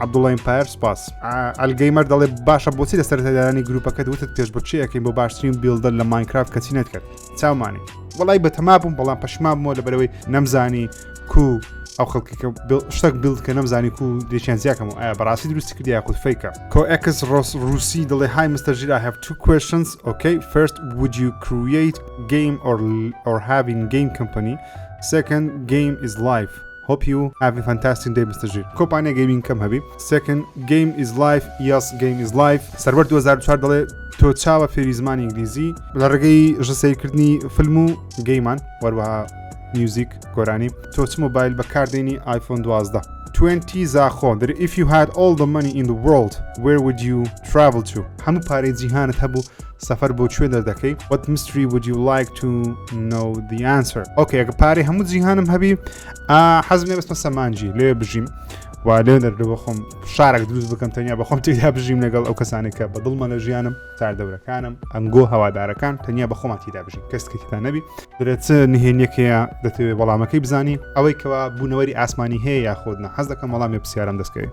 عبدوڵڵە ئیمپایر سپاس ئەلگەیمەر دەڵێ باشە بۆچی لە سەرتەدارانی گروپەکەت وتت پێش بچیەکەین بۆ باشترین بیلدەر لە ماینکرافت کەچی نەتکرد چاومانی وڵی بەتەما بووم بەڵام پەشما بووە لە بەرەوەی نەمزانی کو ئەو خەڵکی شتێک بیلد کە نەمزانی و دێکیان زیاکەم و ئایا بەڕاستی دروستی کردی یاخود فیکە کۆئکس ڕۆس رووسی دڵێ های مستەر ژیر I have two questions okay first would you create game or or having game company second game is life Hope you have a fantastic day Mister ژیر کۆمپانیا گەیمینگ کەم هەبی سێکن گەیم ئیز لایف یاس گەیم ئیز لایف سەروەر 2004 دەڵێ تۆ چاوە فێری زمانی ئینگلیزی لە ڕێگەی ژەسەیرکردنی فیلم و گەیمان وەروەها میوزیک گۆرانی تۆ چ مۆبایل بەکاردێنی آیفۆن 12 20 زاخۆ در if you had all the money in the world where would you travel to هەموو پارەی جیهانت هەبوو سەفەر بۆ کوێ دەردەکەی What mystery would you like to know the answer ئۆکە ئەگە پارەی هەموو جیهانم هەبی حەزم لێ بەستمە سەمانجی لێ بژیم و لێ دەردەوە خۆم شارێک دروست بکەم تەنیا بەخۆم تێدا بژیم لەگەڵ ئەو کەسانێک کە بە دڵمە لە ژیانم تاردەورەکانم ئەنگۆ هەوادارەکان تەنیا بە خۆمان تیدا بژین کەسکەکیدا نەبی درێت نهێنیەکەیە دەتەوێت وەڵامەکەی بزانی ئەوەی کەوا بوونەوەری ئاسمانی هەیە یاخۆدنا حەز دەکەم وەڵامی پرسیارم دەستکەوێت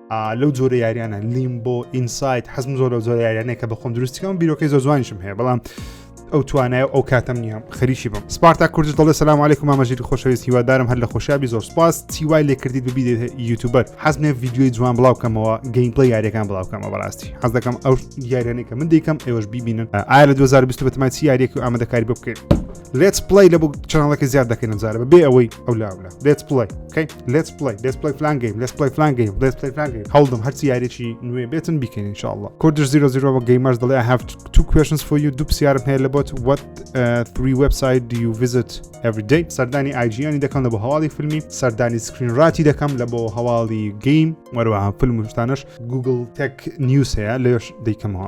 لەو جۆرە یاریانە لیمبۆ ئینسایت حەزم زۆر لەو جۆرە یاریانەیە کە بەخۆم دروستیکەم بیرۆکەی زۆر جوانیشم هەیە بەڵام ئەو توانای ئەو کاتم نییە خەریکی بم سپارتا کوردش دەڵێ سلام عیکم مامەژری خۆشەویست هیوادارم هەر لە خۆشیابی زۆر سپاس چیوای لێکردیت ببیێت یوتوبەر حەزمێ یددیوی جوان بڵاوکەمەوە گەیمپڵی یاریەکان بڵاوکەمە بەڕاستی حەز دەکەم ئەو یاریانەی کە من دیکەم ئێوەش ببینن ئایا لە 2020 بەتمای چی یاریەکی ئامادەکاری بکەین لێت پلی لە چناڵەکە زیاد دەکەین ئەمجارە بە بێ ئەوەی ئەو لاولە لێت پلی کەی لێت پلی لێت پلی فلانگەیم لێت پلی فلانگەیم لێت پلی فلانگەیم هەڵدم هەرچی یاریی نوێ بێتن بیکەین انشاءله کوردش زیرۆ زیرۆ بە گەیمەر دەڵێ هاف تو کوشنس فۆ یو دوو پرسیارم هەیە لە بۆت وەت تری وبسایت دیو ویزت ئەڤدەی سەردانی ئایجیانی دەکەم لە بۆ هەواڵی فیلمی سەردانی سکرین ڕاتی دەکەم لە بۆ هەواڵی گەیم وەروەها فیلم شتانش گوگل تەک نیوز هەیە لەش دەیکەمەوە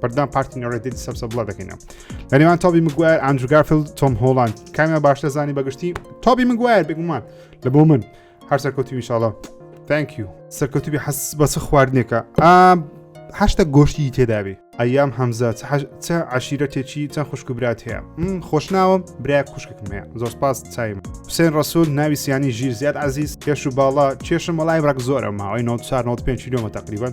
بەردان پارتی نۆڕێتی سەبسە بڵە دەکەینە لەنێوان تابی مگوار ئەنجگافل تۆم هۆڵاند کامیان باشتە زانی بەگشتی تابی مگوار بگومان لە بۆ من هەر سەرکەوتی میشاڵە تانکیو سەرکەوتوبی حەس بەسە خواردنێکە هەشتا گۆشتی تێدابێ ئەیام هەمزە چ عشیرەتێکی چەند خوشکبرات هەیە خۆشناوە برا خوشکم هەیە زۆر سپاس چایم حسێن ڕسول ناوی سیانی ژیر زیاد عزیز کێش و باڵا کێشم وڵای ڕک زۆرە ماوەی 1995 کیلومە تقریبن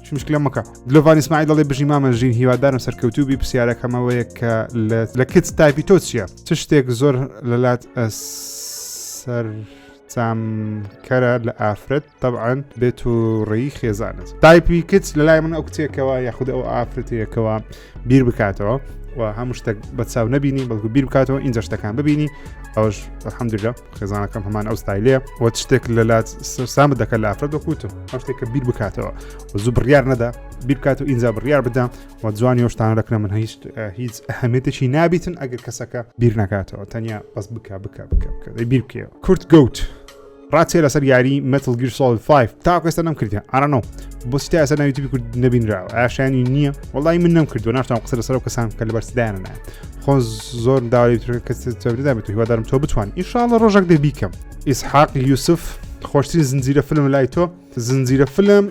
مشکلە مەکە دلۆڤان ئیسماعیل دەڵێ بژی مامە ژین هیوادارم سەرکەوتوو بی پرسیارەکەمەوەیە کە لە کچ تایپی تۆ چییە چ شتێک زۆر لەلات سەر سامکەرە لە ئافرەت تەعاان بێت و ڕێی خێزانت تایپی کچ لە لای من ئەو کتێکەوە یاخود ئەو ئافرەتەیەکەوە بیر بکاتەوە و هەموو شتێک بە چاو نبینی بەڵکو بیر بکاتەوە ئینجا شتەکان ببینی ئەوش حەمدرا خێزانەکەم هەمان ئەو ستایلەیە وە شتێک لە لات سامە دەکە لە ئافرەت وەکوتم ئەو شتێک کە بیر بکاتەوە زوو بڕیار نەدا بیر بکات و ئینجا بڕیار بدەم و جوانی هۆشتان دەکەم من هیچ هیچ ئەهمێتێکی نابیتن ئەگەر کەسەکە بیر نکاتەوە تەنیا بەس بک بک بک بیر بکەوە کورت گەوت ڕاچێ لەسەر یاری متل گیر سۆڵ 5 تاکو ئێستا نەم کردیان ئارانۆ بۆچی تا ئێستا ناویتیبی کورد نبینراوە ئاشانی نییە وڵی من نەم کردو ناشتان قسە لەسەر و کەسان کە لە بەرسدایانە خۆ زۆر داوای کەسدا بێت هیوادارم تۆ بتوان ئیشاڵە ڕۆژێک دەبیکەم ئیسحاق یوسف خۆشترین زنجیرە فلم لای تۆ زنجیرە فلم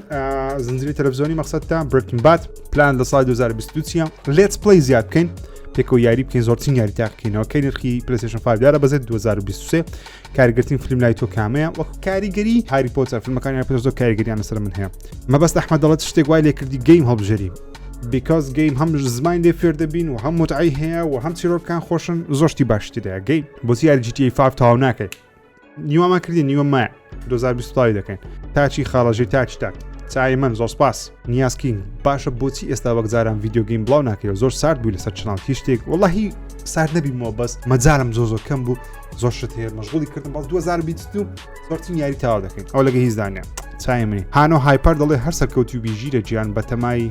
زنجیرە تەلەڤزیۆنی مەقصد تا برکن بات پلان لە سای 2022 چیە لێت پلی زیاد بکەین پێکەوە یاری بکەین زۆرترین یاری تاقینەوە کەی نرخی پلسشن فدارە بەزێت 2023 کارگرتین فلم لای تۆ کامەیە وەک کاریگەری هاری پۆتە فیلمەکانی پێ زۆر کاریگەریان لەسەر من هەیە مەبەست ئەحمە دەڵێت شتێک وای لێ کردی گەیم هەڵبژێری بیکاس گەیم هەم زمان لێ فێر دەبین و هەم متعی هەیە و هەم چیرۆکان خۆشن زۆشتی باشترە گەی بۆ یاری جیتی 5 تاو ناکەیت نیوەمان کردی نیوە مای 2020 دەکەین تاچی خاڵەژی تاچ تاک چای من زۆر سپاس نیازکین باشە بۆچی ئێستا وەک جاران یددیوگەیم بڵاو ناکەەوە زۆر سارد بووی لەسەر چناڵ هیچ شتێک وڵی سارد نەبیمەوە بەس مەجارم زۆ زۆر کەم بوو زۆر شت هەیە مەشغولی کردم بەڵ 2020 زۆرتین یاری تاوا دەکەین ئەو لەگە هیچدانە چای منی هانۆ هایپەر دەڵێ هەر سەرکەوتی و بیژیرە گیان بەتەمای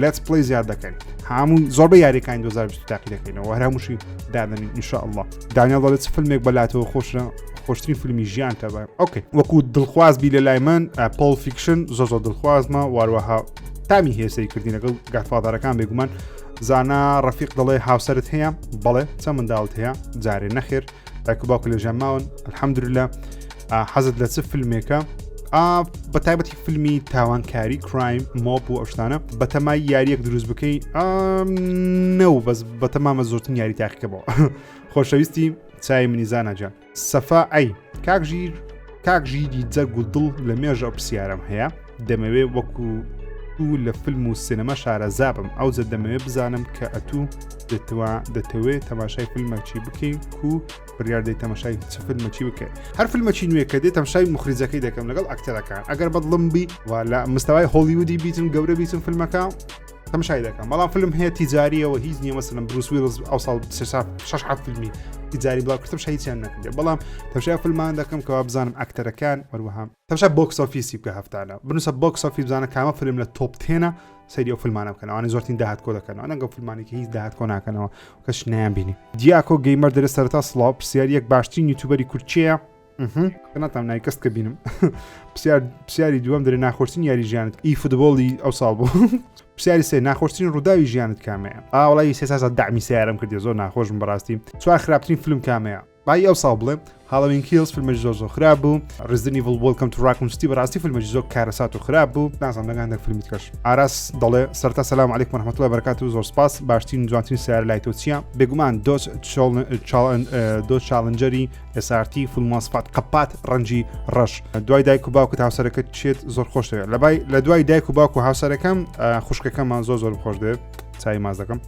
لەتس پلەی زیاد دەکەین هەموو زۆربە یاریەکانی 2020 تاقی دەکەینەوە هەرا موشی دادەنین انشاء الله دانیال دەڵێت فیلمێک بەلاتەوە خۆشە خۆشتری فیلمی ژیان تەبە ئۆکەی وەکو دڵخواز بی لە لای من پۆل فیکشن زۆ زۆر دڵخوازمە واروەها تامی هێسەی کردین لەگەڵ گاتفادارەکان بێگومان زانا ڕفیق دەڵێ هاوسرت هەیە بەڵێ چە منداڵت هەیە جارێ نەخێر دایکو باوکە لەژیان ماون الحەمدرلە حەزت لە چ فیلمێکە بە تایبەتی فیلمی تاوانکاری کرایم مۆپ و ئەشتانە بەتەمای یاریەک دروست بکەی نەو بەس بەتەمامە زۆرتن یاری تاقیکەەوە خۆشەویستی چای منیزانەجا سەفا ئەی کاک ژیر کاک ژیری جەرگ و دڵ لە مێژە پرسیارم هەیە دەمەوێ وەکو و لە فیلم و سینەما شارەزا بم ئەوجە دەمەوێ بزانم کە ئەتوو دەتوا دەتەوێت تەماشای فیلمەکی بکەین و بڕاردەی تەماشای چ فیلمەکی بکەین هەر فیلمەکی نوێ کە دێت تەمشای مخریجەکەی دەکەم لەگەڵ ئەکتەرەکان ئەگەر بەدڵم بی و لە مستەوای هۆلیودی بیتن گەورە بیتن فیلمەکە تەمشای دەکەم بەڵام فیلم هەیە تیجاریەوە هیچ نیە مەسلم بروس ویلز ئەو ساڵ شش حەف فیلمی تیجاری بڵاو کردم شەیچیان نەکردێ بەڵام تەمشای فیلمان دەکەم کەوا بزانم ئەکتەرەکان وەروەهام تەمشا بۆکس ئۆفیسی بکە هەفتانە بنووسە بۆکس ئۆفیس بزانە کامە فلم لە تۆپ تێنە سەری ئەو فلمانە بکەنەوەوانی زۆرترین داهات کۆ دەکەنەوە نەگە فلمانێکی هیچ داهات کۆ ناکەنەوە کەش نیان بینی دیاکۆ گەیمەر دەرە سەرتا سڵاو پرسیار یەک باشترین یوتوبەری کورچەیە ناتام نای کەست کە بینم پرسیاری دووەم دەرێ ناخۆشتین یاری ژیانت ئی فوتبۆڵی ئەو ساڵ بوو پرسیاری سێ ناخۆشتین ڕووداوی ژیانت کامەیە ئاوڵی سێسازە دامی سیارم کردی زۆر ناخۆشم بەڕاستی چوار خراپترین فلم کامەیە بای ئەو ساڵ بڵێم هاڵوین کیلز فیلمەش زۆر زۆر خراپ بوو ڕزدنی ڤڵ بۆلکەم تو ڕاکونستی بەڕاستی فیلمەش زۆر کارەسات و خراپ بوو نازان دەگان دەک فیلمی کەش ئاراس دەڵێ سەرتا سەسلام علیک محمەتڵە بەرکات و زۆر سپاس باشترین جوانترین سیار لای تۆ چیە بێگومان دۆچ دۆ چاالنجەری ئێسارتی فولماسپات قەپات ڕەنجی ڕەش دوای دایک و باوکت هاوسەرەکەت چێت زۆر خۆشەیە لەبای لە دوای دایک و باوک و هاوسەرەکەم خوشکەکەمان زۆر زۆر خۆش دێت چای ماز دەکەم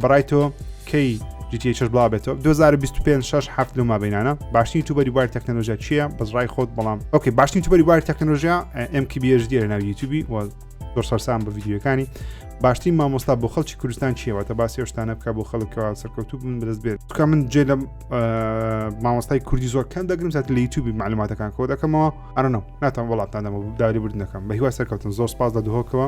بەڕای تۆ کەی جیتی چش بڵا بێتەوە 2025 6 هەفت لە مابینانە باشترین تو بەری باری تەکنەلۆژیا چییە بەزڕای خۆت بەڵام ئۆکەی باشترین تو بەری باری تەکنەلۆژیا ئەم کی بێژ دیێ لە ناوی یوتیوبی و زۆر سەرسان بە یددیوەکانی باشترین مامۆستا بۆ خەڵکی کوردستان چیەوەتە باسی شتانە بکە بۆ خەڵکەوە سەرکەوتو بن بەدەست بێت بکە من جێ لە مامۆستای کوردی زۆر کەم دەگرم سات لە یوتوبی معلوماتەکان کۆ دەکەمەوە ئەرنەوە ناتان وڵاتان دەمە داری بردنەکەم بە هیوا سەرکەوتن زۆر سپاس لە دهۆکەوە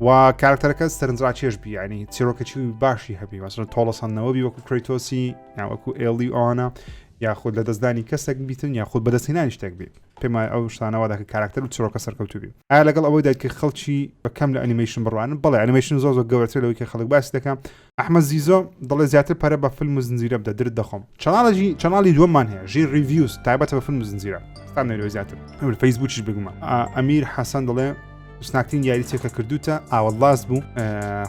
و کارکتەرەکە سەرنجڕاکێش بیانی چیرۆکەچی و باشی هەبی وەسن تۆڵەسەندنەوەبی وەکو کرێتۆسی یاوەکو ئێڵی ئەوانە یاخود لە دەستدانی کەسێک بیتن یاخود بەدەستینانی شتێک بێت پێم ئەو شتانەوە دەکە کارکتەر و چرۆکە سەرکەوتوبی ئایا لەگەڵ ئەوەی دایکە خەڵکی بەکەم لە ئەنیمەیشن بڕوانن بەڵێ ئەنیمەیشن زۆر زۆر گەورەتر لەوەی کە خەڵک باسی دەکەم ئەحمەد زیزۆ دەڵێ زیاتر پەرە بە فلم و زنجیرە بدە درت دەخۆم چەناڵێکی چەناڵی دووەممان هەیە ژیر ریڤیوز تایبەتە بە فلم و زنجیرە ستا نەرۆی زیاتر ئەمر فەیسبوکیش بگومە ئەمیر حەسەن دەڵێ سناکترین یاریچێک کە کردوتە ئاوەڵاس بوو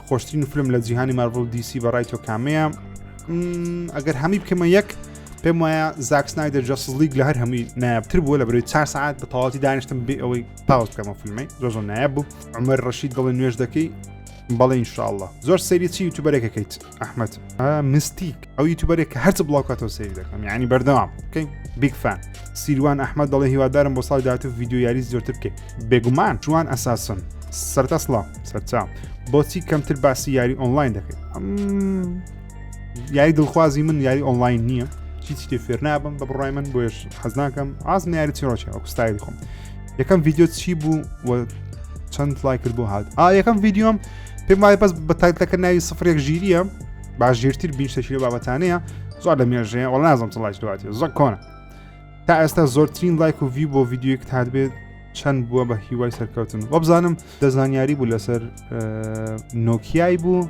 خۆشترین فلم لە جیهانی مارڤڵ دیسی بەڕای تۆ کامەیە ئەگەر هەمی بکەمە یەک پێم وایە زاکسنای دە جەسلیک لە هەر هەمووی نایابتر بووە لە بەروی چار سعات بە تەواتی دانیشتم بێ ئەوەی پاوس بکەمە فیلمی زۆ زۆ نایاب بوو ئەمەر ڕەشید دڵی نوێش دەکەی بەڵێ انشاءله زۆر سەیری چی یوتوبەرێکەکەیت ئەحمد مستیک ئەو یوتوبەرێک کە هەرچ بڵاوکاتەوە سەیری دەکەم یعنی بەردەوام بکەین بیگ فان سیروان ئەحمد دەڵێ هیوادارم بۆ ساڵ داات و یددیو یاری زۆرتر بکەین بێگومان جوان ئەساسن سەرتا سڵام سەرچاو بۆچی کەمتر باسی یاری ئۆنلاین دەکەیت یاری دڵخوازی من یاری ئۆنلاین نییە چیچی تێ فێر نابم بە بڕای من بۆش حەزناکەم ئاز ناری چیڕۆکی ئەو کوستایلی خۆم یەکەم ڤیددیو چی بوو و چەند لای کرد بۆ هاات ئا یەکەم ڤیددیۆم پێم وایە بەس بە تایتەکە ناوی سفرێک ژیریە باش ژیرتر بین شەکیلە بابەتانەیە زۆر لە مێژەیە وڵ نازم چڵای دوات زۆر کۆنە تا ئێستا زۆرترین لایک و ڤی بۆ ڤیددیوک تات بێت چەند بووە بە هیوای سەرکەوتن وەبزانم دەزانیاری بوو لەسەر نۆکیای بوو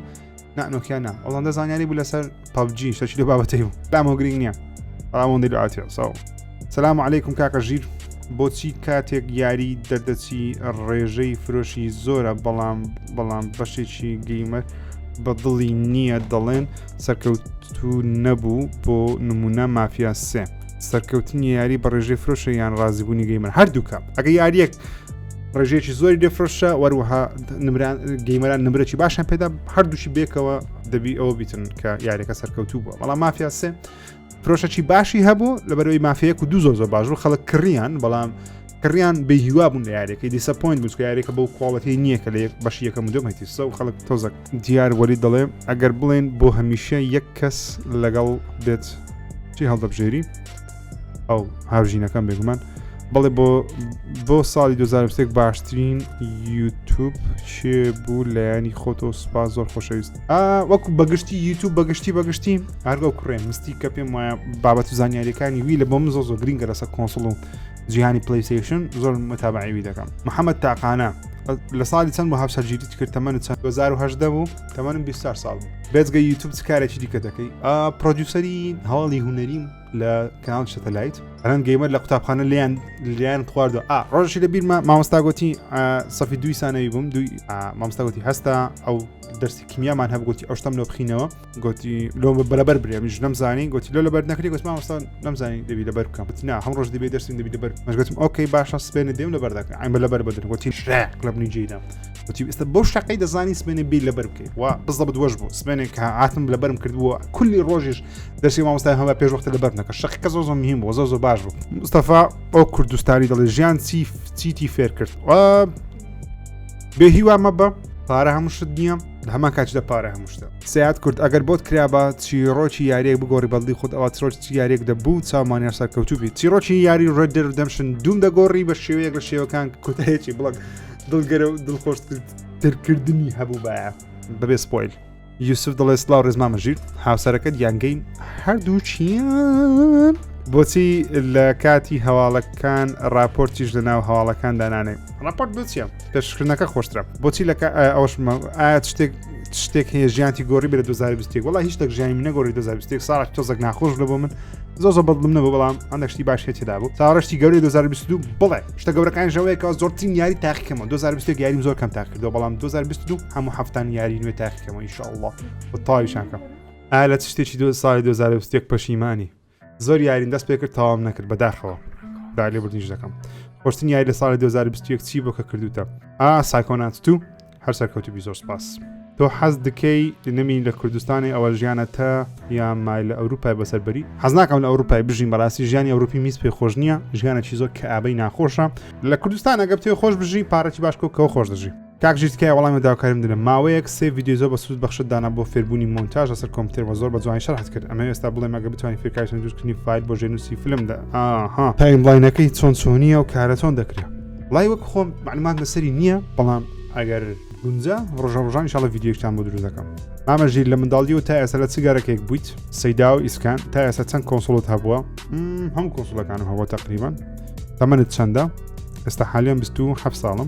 نانۆکیان نا ئەڵندە زانیاری بوو لەسەر پبجی شەچی لە بابەتی بوو دامۆ گرنگ نییە ئەڵاوەندی لوعاتی ساو سلام عیکم کاکە ژیر بۆچی کاتێک یاری دەردەچی ڕێژەی فرۆشی زۆرە بەڵام بەڵام بەشێکی گەیمەر بە دڵی نییە دەڵێن سەرکەوتو نەبوو بۆ نمونە مافیا سێ سەرکەوتنی یاری بە ڕێژەی فرۆشە یان ڕازیبوونی گەیمەر هەردووکە ئەگە یاریەک ڕێژەیەکی زۆری دەفرۆشە وەروەها نمران گەیمەران نمرەی باشان پێدا هەردووشی بێکەوە دەبی ئەوە بیتن کە یاریەکە سەرکەوتوو بووە بەڵام مافیاسێ پرۆشەکی باشی هەبوو لە بەرەوەی مافەیەک و دوو زۆر زۆر باش بوو خەڵک کڕیان بەڵام کڕیان بێ هیوا بوون لە یاریەکەی دیسە پوین بوو یاریەکە بەو کۆڵەتی نییە کە لە یەک بەش یەکەم دوم هەتیسە و خەڵک تۆزەک دیار وەری دەڵێ ئەگەر بڵێن بۆ هەمیشە یەک کەس لەگەڵ بێت چی هەڵدەبژێری ئەو هاوژینەکەم بێگومان بەڵێ بۆ بۆ ساڵی 2023 باشترین یوتوب چێ بوو لایەنی خۆتۆ سوپاس زۆر خۆشەویست وەکو بەگشتی یوتوب بەگشتی بەگشتی هەرگە کوڕێ مستی کە پێم وایە بابەت و زانیاریەکانی وی لە بۆم زۆ زۆ گرنگە لەسەر کۆنسڵ و جیهانی پلیسیشن زۆر متابعیوی دەکەم محەممەد تاقانە لە ساڵی چەند بۆ هاوسەرگیریت کرد تەمەنت چەند 2010 بوو تەمەنم 24 ساڵ بوو بێزگە یوتوب چ کارێکی دیکە دەکەی پرۆدیوسری هەواڵی هوەریم لە کانال شەتەلایت ئەرەن گەیمەر لە قوتابخانە لیان لیان خواردو ئا ڕۆژی لە بیرمە مامۆستاگوتی سەفی دوی سانەوی بووم دوی مامستاگوتی هەستا ئەو دەرسی کیمیامان هەبگوتی ئەو شتم لۆ بخینەوە گوتی لۆ بەرەبەر برێ منش نەمزانی گوتی لۆ لەبەر نەکری گوت مامۆستان نەمزانی دەبی لەبەر بکەم بتنا هەم ڕۆژ دەبێت دەرسم دەبی لەبەر مەشگەتم ئۆکەی باشە سپێنە دێم لەبەر دەکە ئەمە لەبەر بەدن گوتی شراق لە بنی جیدام وتی ئێستا بەو شقەی دەزانی سمێنێ بیر لەبەر بکەیت و بزە بدوەش بوو سمێنێک کە هاتم لەبەرم کردووە کولی ڕۆژیش دەرسی مامۆستای هەمە پێش وەختە لەبەر نەکە شقەکە زۆ زۆ مهم بۆ زۆ زۆ باش بوو مستەفا ئەو کوردستانی دەڵێ ژیان چی چیتی فێر کرد بێ هیوا مە بە پارە هەموو شت نییە هەمان کاتشدا پارە هەموو شتە سیاد کورد ئەگەر بۆت کرابا چیرۆکی یاریەک بگۆڕی بەڵدی خۆت ئەوە ترۆچ یاریەک دەبوو چاومانیا سەرکەوتوبی چیرۆکی یاری ڕێدر دەمشن دوم دەگۆڕی بە شێوەیەک لە شێوەکان کۆتایەکی بڵک دڵگەرە و دڵخۆش دەرکردنی هەبوو باە بەبێ سپۆیل یوسف دڵێ سلااو ڕێزمامە ژیر هاوسەرەکەت یانگەین هەردوو چیان بۆچی لە کاتی هەواڵەکان راپۆرتیش لە ناو هەواڵەکان دانانێ راپۆرت بچیە پێشکردنەکە خۆشترە بۆچی لە ئەوش ئایا شتێک شتێک هەیە ژیانتی گۆری بێت 2020 وڵی هیچ تەک ژیانی منە گۆری 2020 ساڵ تۆزەک ناخۆش لە بۆ من زۆ زۆ بەڵم نەبوو بەڵام ئەندەشتی باش هێتدا بوو تاڕشتی گەوری 2022 بڵێ شتە گەورەکان ژەوەیەکە زۆرترین یاری تاقیکەمە 2020 یاریم زۆر کەم تاکردەوە بەڵام 2022 هەموو هەفتان یاری نوێ تاقیکەمە ئیشاءله بە تاویشانکەم ئالە شتێکی دو ساڵی 2020 پەشیمانی زۆر یارین دەست پێ کرد تەواوم نەکرد بەداخەوە دا لێ بردنیش دەکەم خۆشتن یاری لە ساڵی 2021 چی بۆ کە کردوتە ئا سایکۆنات تو هەر سەرکەوتو بی زۆر سپاس تۆ حەز دکەی نەمین لە کوردستانی ئەوە ژیانە تا یا مای لە ئەوروپای بەسەربەری حەزناکەم لە ئەوروپای بژین بەڕاستی ژیانی ئەوروپی میز پێ خۆش نییە ژیانە چی زۆر کە ئابەی ناخۆشە لە کوردستان ئەگەر پێ خۆش بژی پارەی باشکۆ کەەوە خۆش دەژی کاک ژیر تکایە وەڵامی داواکاریم دەرم ماوەیەک سێ ڤیدیۆ زۆر بە سوود بەخشت دانا بۆ فێربوونی مۆنتاژ لەسەر کۆمپیوتەر بە زۆر بە جوانی شەرحت کرد ئەمە ئێستا بڵێم ئەگە بتوانین فێرکاری چەند دروستکردنی فایل بۆ ژێنووسی فیلم دە ئاها تایملاینەکەی چۆن چۆنیە و کارە چۆن دەکرێ وڵای وەک خۆم معلومات لەسەری نییە بەڵام ئەگەر گونجا ڕۆژە ڕژان شڵە ڤیددیوکتان بۆ دروست دەکەم ئامە ژیر لە منداڵی و تا ئێستا لە چگارەکێک بوویت سەیدا و ئیسکان تا ئێستا چەند کۆنسڵت هەبووە هەم کۆنسڵەکانم هەوە تقریبان تەمەنت چەندە ئێستا حالیان 27 ساڵم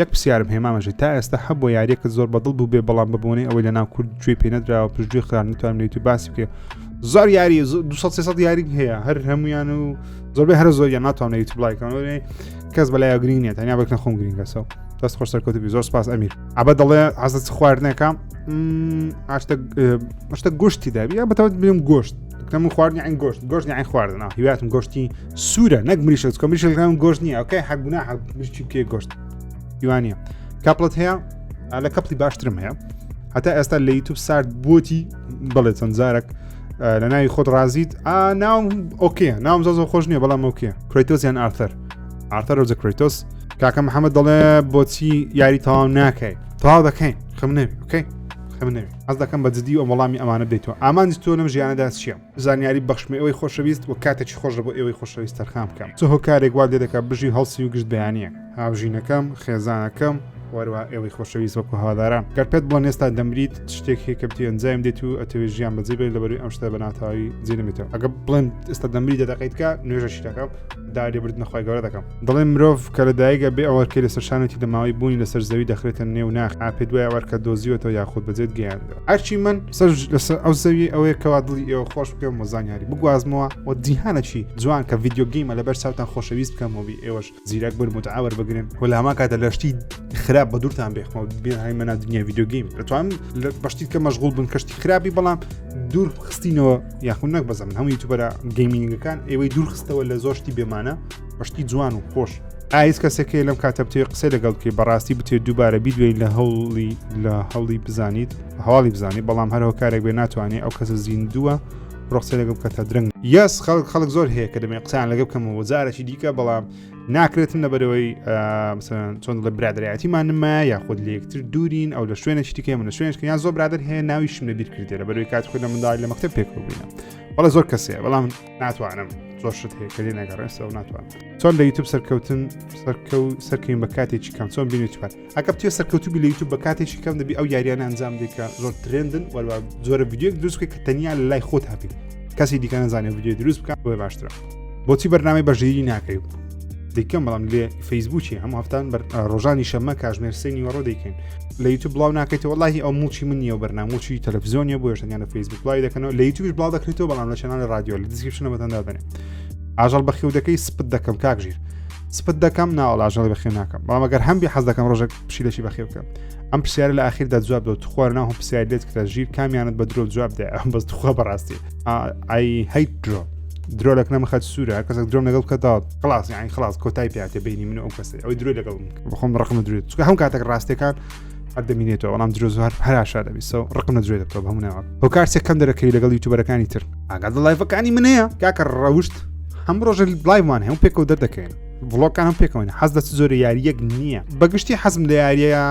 یەک پرسیارم هەیە مامە ژیر تا ئێستا هەبووە یاریەکە زۆر بەدڵ بوو بێ بەڵام بە بۆنەی ئەوەی لە ناو کورد گوێ پێ نەدراوە پشتگوێ خران نتوانم لە یوتیوب باسی بکە زۆر یاری 200 یاری هەیە هەر هەمویان و زۆربەی هەر زۆریان ناتوان لە یوتیوب لایکەوە کەس بەلای گرین نیە تەنیا بەکنە خۆم گرینگەسەوە دەست خۆش سەرکەوتبی زۆر سپاس ئەمیر ئەبە دەڵێ عزت خواردنەکەم ئاشتە گشتی دابی یا بەتەوت بیم گۆشت کەم خواردنی ئەین گۆشت گۆشت ئەین خواردنە هیواتم گۆشتی سوورە نەک مریشە چکە مریشەکان گۆشت نییە ئەوکەی حەک بنا حەک مریشی بکێ گۆشت یوانە کاپڵەت هەیە لە کەپڵی باشترم هەیە هەتا ئێستا لە یوتوب سارد بۆتی بڵێ چەند جارێک لە ناوی خۆت ڕازیت ئا ناوم ئۆکیە ناوم زۆ خۆش نییە بەڵام ئۆکیە کریتۆس یان ئارتەر ئارتەر ۆزە کریتۆس کاکە محەممەد دەڵێ بۆچی یاری تەواو ناکەی تەواو دەکەین خمنێ بکەین خمنێ ئەس دەکەم بە جددی و وەڵامی ئەمانە بدەیتەوە ئامانج تۆ لەم ژیانەدا چییە زانیاری بەخشمە ئێوەی خۆشەویست و کاتێکی خۆشە بۆ ئێوەی خۆشەویست تەرخان بکەم چ هۆکارێک وا لێ دەکات بژی و هەڵسی و گشت بیانییە هاوژینەکەم خێزانەکەم وەروە ئێوەی خۆشەویست وەکو هەواداران گەر پێت بڵێن ئێستا دەمریت شتێک هەیە کە بتوێن جایم دێت و ئەتەوێ ژیان بەجێ بێت لەبەروی ئەم شتە بە ناتاوی جێ نەمێتەوە ئەگە بڵێن ئێستا دەمری دەدەقیتکە نوێژەشی دەکەم داوری بردنە خۆی گەورە دەکەم دڵێن مرۆڤ کە لە دایگە بێ ئەوەرکەی لەسەر شانێتی لە ماوەی بوونی لەسەر زەوی دەخرێتە نێو ناخ ئاپێ دوای ئەوەرکە دۆزیوەەوە یاخود بەجێت گەیاندەوە ئەرچی من سەر لەسەر ئەو زەوی ئەوەیە کەوا دڵی ئێوە خۆش بکەم و زانیاری بگوازمەوە و دیهانەکی جوان کە ڤیددیوگەیمە لەبەر چاوتان خۆشەویست بکەم و بی ئێوەش زیرەک بن متعاور بگرن و لە هەمان کاتە لەشتی خراپ بە دوورتان بێخمە بێهای مەنا دنیا ڤیددیوگەیم دەتوانم لە بەشتی کە مەشغول بن کەشتی خراپی بەڵام دوور خستینەوە یاخود نەک بەزە من هەموو یوتوبەرە گەیمینگەکان ئێوەی دوورخستەوە لە زۆر شتی بێمانە بەشتی جوان و خۆش ئایس کەسێکی لەم کاتە بتێ قسە لەگەڵ بکەی بەڕاستی بتێ دووبارە بیدوێن لە هەوڵی لە هەوڵی بزانیت هەواڵی بزانانی بەڵام هەرەوە کارێک بێ ناتوانێت ئەو کەسە زیندووە ڕۆخسە لەگەڵ بکە تا درنگ یاس خەڵک خەڵک زۆر هەیە کە دەمێ قسان لەگە بکەمەوە جارێکی دیکە بەڵام ناکرێتن لە بەرەوەی چۆن لە برادایەتیمانمە یاخود لە یەکتر دوورین ئەو لە شوێنە شتیکە من لە شوێنشکە یان زۆر برادر هەیە ناویشم لە بیر کردێ لە بەروی کات خۆ لە منداڵی لە مەکتب پێکبووینە بەڵە زۆر کەسێ بەڵام ناتوانم زۆر شت هەیە کە لێ نەگەڕێستەوە ناتوان چۆن لە یوتوب سەرکەوتن سەرکە و سەرکەین بە کاتێکی کەم چۆن بینی چپات ئەگەر بتوێ سەرکەوتو بی لە یوتوب بە کاتێکی کەم دەبی ئەو یاریانە ئەنجام دیکە زۆر ترێندن وەروە زۆرە یددیوک دروست کە تەنیا لە لای خۆت هەبی کەسی دیکە نزانێت یددیو دروست بکات بۆ باشترە بۆچی بەرنامی بەژیری ناکەی دیکەم بەڵام لێ فەیسبووکی هەموو هەفتان ڕۆژانی شەمە کاژمێر سێنی وەڕۆ دەیکەین لە یوتوب بڵاو ناکەیتەوە وڵی ئەو موچی من نیە بەرناموچی تەلەڤزیۆنیە بۆ شتیان لە فەیسبوک بڵاوی دەکەنەوە لە یوتوبش بڵاو دەکرێتەوە بەڵام لە چناە رادیۆ لە دیسکرپشنە بەتەندا دەنێ ئاژەڵ بەخێودەکەی سپت دەکەم کاکژیر سپت دەکەم ناوە لاژەڵی بەخێ ناکەم بەڵام ئەگەر هەمبی حەز دەکەم ڕۆژێک پشیلەشی بەخێ بکەم ئەم پرسیار لە ئاخیردا جواب دەوت خوار ناو هەم پرسیار دێت کە ژیر کامیانت بە درۆ جواب دە ئەم بەس توخوا بەڕاستی ئای هەیت درۆ درۆ لەک نەمەخەت سوورە کەس درۆم لەگەڵ کەدا خلاص یان خلاص کۆتای پێاتێ بینی من ئەو کەسی ئەوی درۆی لەگەڵ بخۆم ڕقم درێت چکە هەم کاتێک ڕاستەکان هەر دەمینێتەوە بەڵام درۆ زوار هەراشا دەبیسەوە ڕقم لە درێ دەبتەوە هەموو ناوە ئەو کارسێک کەم دەرەکەی لەگەڵ یوتوبەرەکانی تر ئاگات لە لایڤەکانی منەیە کاکە ڕەوشت هەم ڕۆژە لایمان هەم پێکەوە دەردەکەین ڤڵۆکان هەم پێکەوەین حەز دەست زۆر یاریەک نییە بەگشتی حەزم لە یاریە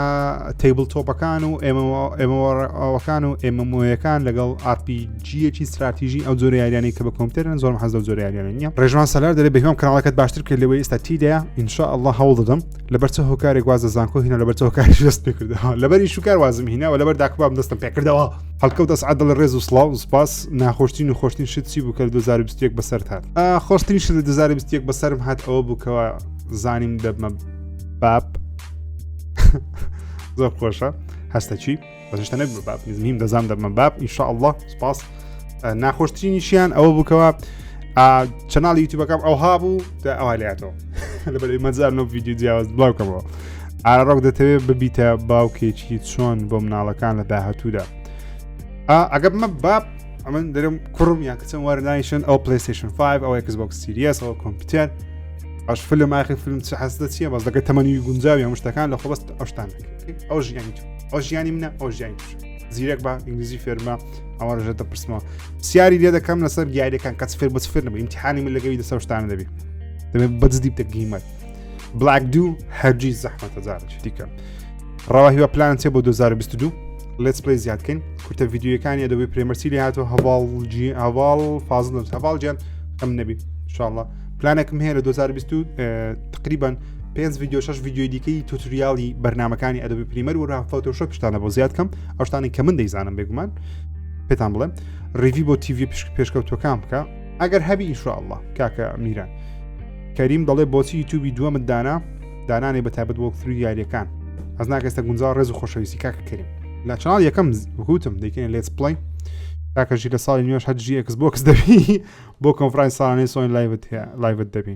تەیبل تۆپەکان و ئێمەوەڕەوەکان و ئێمەمۆیەکان لەگەڵ ئاپیجیەکی استراتیژی ئەو زۆر یاریانی کە بە کۆمپیوتەرن زۆرم حەز زۆر یاریانە نیە ڕێژوان سەلار دەێ بەهۆم کاناڵەکەت باشتر کرد لەوەی ئێستا تیدەیە ئینشاء الله هەوڵ دەدەم لەبەر چه هۆکارێک واز لە زانکۆ هینا لەبەر چه هۆکاری دەست پێ کردەوە لەبەری شوکار وازم هینەوە لەبەر داکبام دەستم پێ کردەوە هەڵکەوت دەست عادڵ ڕێز و سلااو سپاس ناخۆشتین و خۆشتین شت چی بوو کە 2021 بەسەر هاات خۆشترین شت لە 2021 بەسرم هات ئەوە بووکەوە زانیم دەبمە باب زۆر خۆشە هەستە چی بەشتە نەبی باب نیم دەزان دەبمە باب ئیشاء الله سپاس ناخۆشترینیشیان ئەوە بووکەوە چەناڵی یوتیوبەکەم ئەوها بوو دا ئەوها لاتەوە لەبەر مەزار نۆ ویددیو جیاواز بڵاوکەمەوە ئارڕۆک دەتەوێت ببیتە باوکێکی چۆن بۆ مناڵەکان لە داهاتوودا ئەگە بمە باب ئەمن دەرم کوڕم یان کەچم وەرنایشن ئەو پلیستشن 5 ئەو ئەکسبک سیریەس ئەو کۆمپیوتەر ئەش فلم ئاخی فلم چ حەزدە چیە بەس دەکە تەمەنی گونجاوی هەمشتەکان لە خۆبست ئەوشتان ئەو ژیانی ئەو ژیانی منە ئەو ژیانی توش زیرەک بە ئینگلیزی فێرمە ئەوە ڕژێتە پرسمەوە سیاری لێ دەکەم لەسەر دیارەکان کەس فێر بەس فێرنەبە ئیمتحانی من لەگەوی دەسە شتانە دەبێت دەبێت بەدزدی بتە گیمەر بلاک دوو هەرجی زەحمەتە جارێک دیکەم ڕەوا هیوە پلان چێ بۆ 2022 لێت پلی زیادکەین کورتە یددیوەکانی ئەدەبی پرێمەرسی لێ هاتو هەواڵجی هەواڵ فازل هەواڵ جیان ئەم نەبی شاءله پلانێکم هەیە لە 2020 تقریبان پێنج ویددیو شش ویددیوی دیکەی توتریالی بەرنمەکانی ئەدەبی پریمەر و ڕافتەوتەشە پشتانە بۆ زیاد کەم ئەوشتانی کە من دەیزانم بێگومان پێتان بڵێم ڕیوی بۆ تیوی پشک پێشکەوتەکان بکە ئەگەر هەبی ئیشاءله کاکە میران کەریم دەڵێ بۆچی یوتوبی دووەمت دانا دانانێ بە تابەت وەک فری یاریەکان ئەز ناکەستە گونجا ڕێز و خۆشەویستی کاکە کریم لە چناڵ یەکەم وکوتم دەکەین لێت پڵین تاکەژی لە ساڵی نوێش هەرجی ئەکس بۆکس دەبی بۆ کۆنفرانس ساڵانەی سۆن لایبت هەیە لایبت دەبی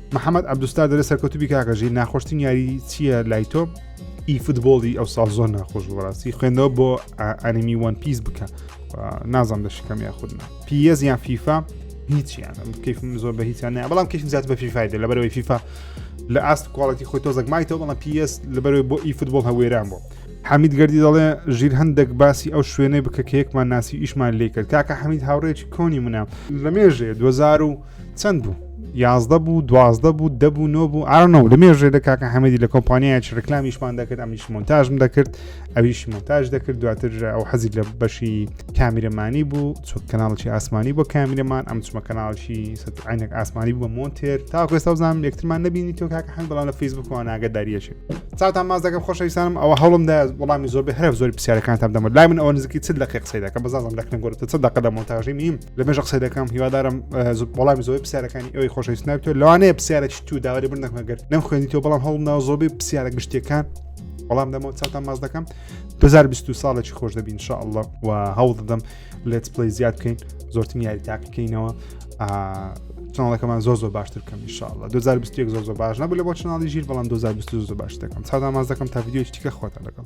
محمد عبدوستار دەێ سەرکەوتوبی کاکە ژیر ناخۆشتین یاری چییە لای تۆ ئی فوتبۆڵی ئەو ساڵ زۆر ناخۆش بەڕاستی خوێندەوە بۆ ئەنیمی وان پیس بکە نازانم دەشکەم یا خودنا پیەز یان فیفا هیچیان کەفم زۆر بە هیچیان نە بەڵام کەفم زیات بە فیفای دە لەبەرەوەی فیفا لە ئاست کوالڵەتی خۆی تۆزەک مایتەوە بەڵام پیس لەبەرەوەی بۆ ئی فوتبۆڵ هەوێران بۆ حەمید گردی دەڵێ ژیر هەندێک باسی ئەو شوێنەی بکە کە یەکمان ناسی ئیشمان لێ کرد کاکە حەمید هاوڕێکی کۆنی منە لە مێژێ 2000 چەند بوو یازدە بوو دوازدە بوو دە بوو نۆ بوو ئارنەوە لە مێژێ لە کاکە حەمەدی لە کۆمپانیایچ ڕکلامیشمان دەکرد ئەمیش مۆنتاژم دەکرد ئەویش مۆنتاژ دەکرد دواتر ئەو حەزی لە بەشی کامیرەمانی بوو چوک کەناڵکی ئاسمانی بۆ کامیرەمان ئەم چمە کەناڵکی عینەک ئاسمانی بوو بە مۆنتێر تاکوێستا زانام لەکترمان نبینی تۆ کاکە حەن بەڵام لە فیسبوکەوە ناگەداریەشێ چاوتان ماز دەکەم خۆشەویستانم ئەوە هەڵمدا وەڵامی زۆر بە هەرە زۆر پرسیارەکانتان دەمە لای من ئەوە نزیکی چ لەقی قسەی دەکە بەزانم لەکنە گۆرتە چ دەقە لە مۆنتاژی میم لە مێژە قسە دەکەم هیوادارم وەڵامی زۆی پرسیارەکانی ئەوی خۆشەویست نابێتەوە لەوانەیە پرسیارێکی تو داوای بر نەکەگەر نەم خوێنیتەوە بەڵام هەڵمناوە زۆبی پرسیارە گشتەکان بەڵام دەمەوە چاتان ماز دەکەم 2020 ساڵێکی خۆش دەبین شاءله و هەوڵ دەدەم لێت پلی زیاد بکەین زۆرتم یاری تاقیکەینەوە چناڵەکەمان زۆ زۆ باشتر کەم شاءله 2020 زۆ زۆ باش نەبوو لە بۆ چناڵی ژیر بەڵام 2020 زۆ باش دەکەم چادا ماز دەکەم تا یددیوی تیکە خۆتە لەگەڵ